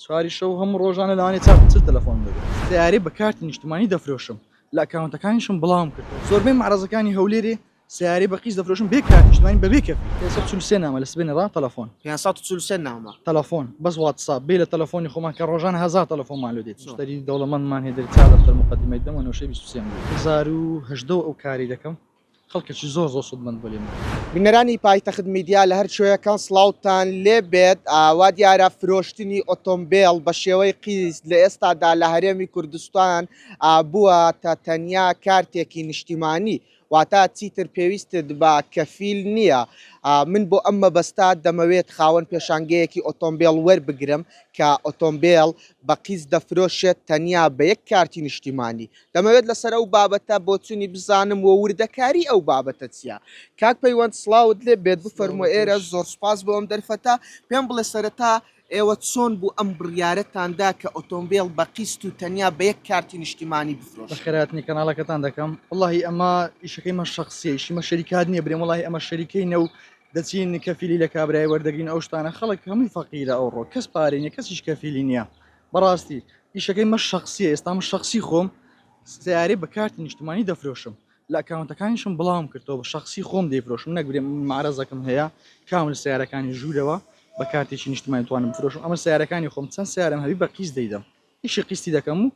چواری شەو هەموو ڕۆژانە لەوانەیە چار پچر تەلەفۆنم دەگرت. سەیارەی بە کارتی نیشتمانی دەفرۆشم، لە ئەکاونتەکانیشم بڵاوم کردووە. زۆربەی مەعرەزەکانی هەولێرێ سەیارەی بە قیست دەفرۆشن بێ کارتی نیشتمانی بە بێ کەفیل. پێنج سەد و چل و سێ نامە لە سبەینێ ڕا تەلەفۆن. پێنج سەد و چل و سێ نامە. تەلەفۆن، بەس واتساپ، بێ لە تەلەفۆنی خۆمان کە ڕۆژانە هەزار تەلەفۆنمان لۆ دێت. مشتەری دەوڵەمەندمان هەیە دەرێ چار دەفتەر موقەدیمەی دەم و نەوشەی بیست و سێم دێ. هەزار و هەژدە و ئەو کارەی دەکەم خەڵکێکی زۆر زۆر سودمەند بوو لێمان. بینەرانی پایتەخت میدیا لە هەر کوێیەکان سڵاوتان لێ بێت، وا دیارە فرۆشتنی ئۆتۆمبێل بە شێوەی قیست لە ئێستادا لە هەرێمی کوردستان بووەتە تەنیا کارتێکی نیشتیمانی واتە چیتر پێویستت بە کەفیل نییە، من بۆ ئەم مەبەستە دەمەوێت خاوەن پێشانگەیەکی ئۆتۆمبێل وەربگرم کە ئۆتۆمبێل بە قیست دەفرۆشێت تەنیا بە یەک کارتی نیشتیمانی، دەمەوێت لەسەر ئەو بابەتە بۆچونی بزانم و وردەکاری ئەو بابەتە چیە؟ کاک پەیوەند سڵاوت لێ بێت بفەرموە ئێرە زۆر سوپاس بۆ ئەم دەرفەتە پێم بڵێ سەرەتا ئێوە چۆن بوو ئەم بڕیارەتان دا کە ئۆتۆمبێل بە قیست و تەنیا بە یەک کارتی نیشتیمانی بفرۆشن؟ بەخێرهاتنی کەناڵەکەتان دەکەم وەڵاهی ئەمە ئیشەکەی من شەخسیە ئیشی مە شەریکات نیە برێم وەڵاهی ئەمە شەریکەینە و دەچین کەفیلی لە کابرای وەردەگرین ئەو شتانە خەڵک هەمووی فەقیرە ئەوڕۆ کەس پارەی نیە کەسیش کەفیلی نیە بەڕاستی ئیشەکەی مە شەخسیە ئێستا مە شەخسی خۆم سیارەی بە کارتی نیشتمانی دەفرۆشم لە ئەکاونتەکانیشم بڵاوم کردەوە بە شخصی خۆم دەیفرۆشم نەگرێ مارەزەکەم هەیە کام لە سیارەکانی ژوورەوە بە کارتێکی نیشتمانی توانم فرۆشم ئەمە سیارەکانی خۆم چەند سیارم هەبی بە قیس دەیدەم ئیشی قیستی دەکەم و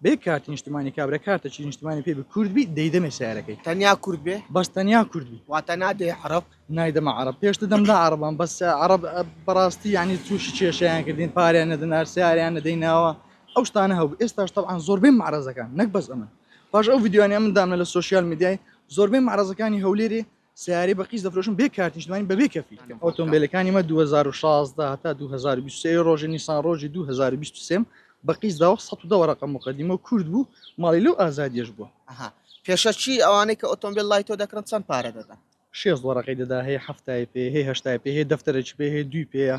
بێ کارتی نیشتمانی کابرا کارتە چی نیشتمانی پێ کورد بی دەیدەمێ سیارەکەی تەنیا کورد بێ بەس تەنیا کورد بی واتە نادێ عرب نایدەمە عرب پێشتە دەمدا عربان بەس عرب بەڕاستی ینی تووشی کێشیان کردین پاریان نەدەنار سیاریان نەدەیناوە ئەو شتانە هەبوو ئێستاش تەعاان زۆربەی معرەزەکان نەک بەس ئەمن پاش ئەو یددیوانە من دامنە لە سوۆسیال میدیای زۆربەی معرەزەکانی هەولێری سەیارەی بە قیست دەفرۆشم بێ کارت نیشتمانی بەبێ کەفیل ئۆتۆمبیلەکانی مە 2016 هەتا 2023 ڕۆژی نیسان ڕۆژی 2023 بە قیست داوە 110 وەرەقە مقدمە و کورد بوو ماڵی لەو ئازادیش بووە ئەها پێشە چی ئەوانەی کە ئۆتۆمبیل لای تۆ دەکڕن چەند پارە دەدەن شێست وەرەقەی دەدا هەیە هەفتای پێ هەیە هەشتای پێ هەیە دەفتەرێکی پێ هەیە دوی پێیە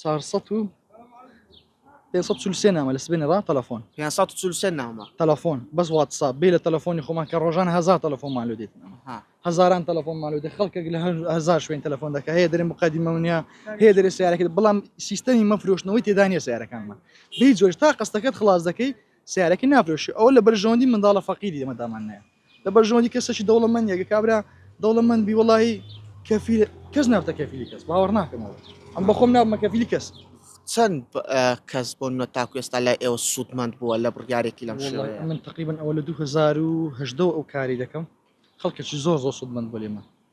چوار سەد و پێنج سەد و چل و سێ نامە لە سبێنێ ڕا تەلەفۆن پێنج سەد و چل و سێ نامە تەلەفۆن بەس واتساپ بێ لە تەلەفۆنی خۆمان کە ڕۆژان هەزار تەلەفۆنمان لۆ دێت ها هەزاران تەلەفۆنمان لۆ دێ خەڵکێک لە هەر هەزار شوێن تەلەفۆن دەکە هەیە دەرێ مقدمە منە هەیە دەرێ سیارەکەت بەڵام سیستەمی مەفرۆشتنەوەی تێدا نیە سیارەکانمان بێ جۆش تا قستەکەت خلاص دەکەی سیارەکە نافرۆشی ئەو لە بەرژەوەندی منداڵە فەقیری ئێمەدامان نایە لە بەرژەوەندی کەسەکی دەوڵەمەندە گە کابرا دەوڵەمەند بی وڵی کەفیل کەس نابتە کەفیلی کەس باوەڕ ناکەمەوە ئەم بەخۆم نابمە کەفیلی کەس چەند کەس بۆ نە تاکوێستا لای ئێوە سوودمەند بووە لە بڕیارێکی لەم شێوەیە من تقریبن ئەوە لە 2018 ئەو کاری دەکەم خەڵکەکی زۆر زۆر سوودمەند بۆ لێمە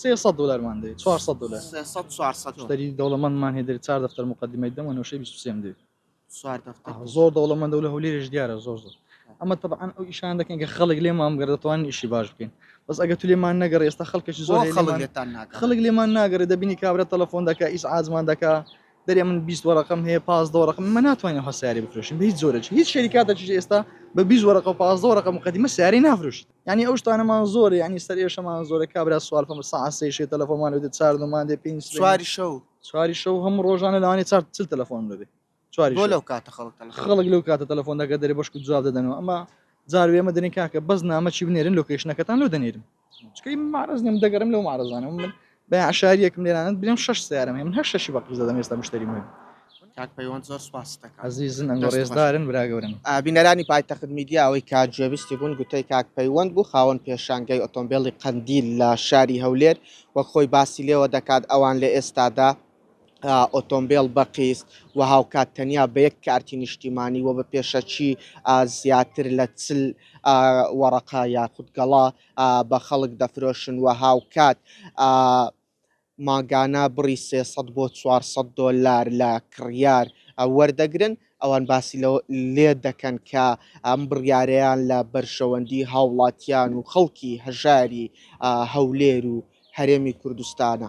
سێ سەد دۆلارمان دەوێ چوار سەد دۆلار سێ سەد چوار سەد مشتەری دەوڵەمەندمان هەیە دەرێ چوار دەفتەر موقەدیمەی دەم و نەوشەی بیست و سێم دەوێ چوار دەفتەر ئەها، زۆر دەوڵەمەندە و لە هەولێرێش دیارە زۆر زۆر ئەمە تەبعەن ئەو ئیشانە دەکەین کە خەڵک لێمان بگەڕێ دەتوانین ئیشی باش بکەین بەس ئەگەر تو لێمان نەگەڕێ ئێستا خەڵکێکی زۆر بۆ هەیە خەڵک لێمان لێتان ناگەڕێ خەڵک لێمان ناگەڕێ دەبینی کابرا تەلەفۆن دەکا ئیزعاجمان دەکا دەرێ من بیست وەرەقەم هەیە پازدە وەرەقەم ئێمە ناتوانین ئەوها سیارەی بفرۆشین بە هیچ جۆرێکی هیچ شەریکاتێکیش ئێستا بە بیست وەرەقە و پازدە وەرەقە موقەدیمە سیارەی نافرۆشیت یانی ئەو شتانەمان زۆرە یانی سەر ئێشەمان زۆرە کابرا سوال فەم سا سێ شێ تەلەفۆمان لەێ چار دەمان دێ پێنج سواری شەو سواری شەو هەم ڕۆژانە لەوانی چار چل تەلەفۆن دەبێ سواری لەو کاتە خەڵک خەڵک لەو کاتە تەلەفۆن دەگە دەێ بەشکو جواب دەدەنەوە ئەمە زار وێمە دەنی کاکە بەس نامەچی بنێرن لۆکیشنەکەتان لۆ دەنێرم چکەی مارز نیم دەگەرم لەو مارزانە من بە یەعشاری یەکم لێرانت بلێم شەش سیارەم هەیە من هەر شەشی بە قیز دەدەم ئێستا مشتەری مۆبیل. کاک پەیوەند زۆر سوپاست دەکەم. ئەزیزن ئەنگۆ ڕێزدارن برا گەورەم. بینەرانی پایتەخت میدیا ئەوەی کە گوێبیستی بوون گوتەی کاک پەیوەند بوو خاوەن پێشانگای ئۆتۆمبێڵی قەندیل لە شاری هەولێر وەک خۆی باسی لێوە دەکات ئەوان لە ئێستادا ئۆتۆمبێڵ بە قیست و هاوکات تەنیا بە یەک کارتی نیشتیمانی و بە پێشەکی زیاتر لە چل وەڕەقە یاخود گەڵا بە خەڵک دەفرۆشن و هاوکات مانگانە بڕی سێ سەد بۆ چوار سەد دۆلار لە کڕیار وەردەگرن، ئەوان باسی لەوە لێ دەکەن کە ئەم بڕیارەیان لە بەرژەوەندی هاوڵاتیان و خەڵکی هەژاری هەولێر و هەرێمی کوردستانە.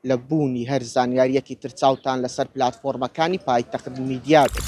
لە بوونی هەر زانیارییەکی تر چاوتان لەسەر پلاتفۆرمەکانی پایتەخت میدیا بێت.